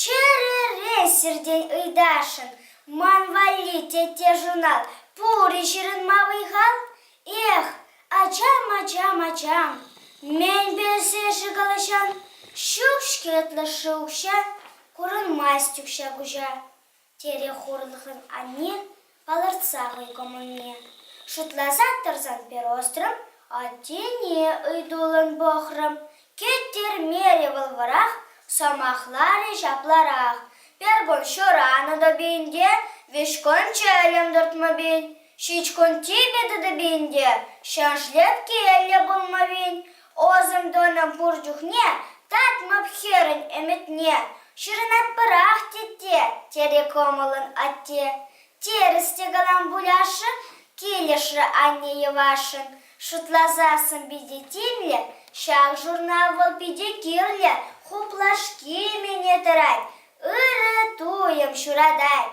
Чӗрӗре сиртен ыйтасшӑн, ман валли тетте журнал пур-и ҫырӑнма вӑй-хал? Эх, ачам-ачам-ачам, мӗн пӗлсе-ши калаҫан? Ҫук-ҫке ытлӑшшӗ укҫа, курӑнмасть укҫа-куҫа. терӗ хурлӑхӑн анне, палӑртса хӑй кӑмӑлне. Шутласа тӑрсан перострӑм аттене ыйтуллӑн пӑхрӑм. Кӗттермерӗ вӑл вӑрах, сӑмахларӗ ҫапларах. Пергун ҫуранӑ тӑпин те, вӗҫкун чӗлӗм туртмӑпин, ҫичкун типӗ тӑтӑпин те, ҫӗр шлепкеллӗ пулмӑпин, Ӑсӑм тӑнӑ пур чухне татмӑп хӗрӗн ӗмӗтне. Ҫырӑнатпӑрах, тетте, терӗ кӑмӑллӑн атте. Терӗс те калам пуляшшӗ, килӗшрӗ анне йӑвашшӑн. Шутласа сӑн питӗ тимлӗ, ҫак журнал вӑл питӗ кирлӗ, хуплашки мӗне тӑрать, ырӑ туйӑм ҫуратать.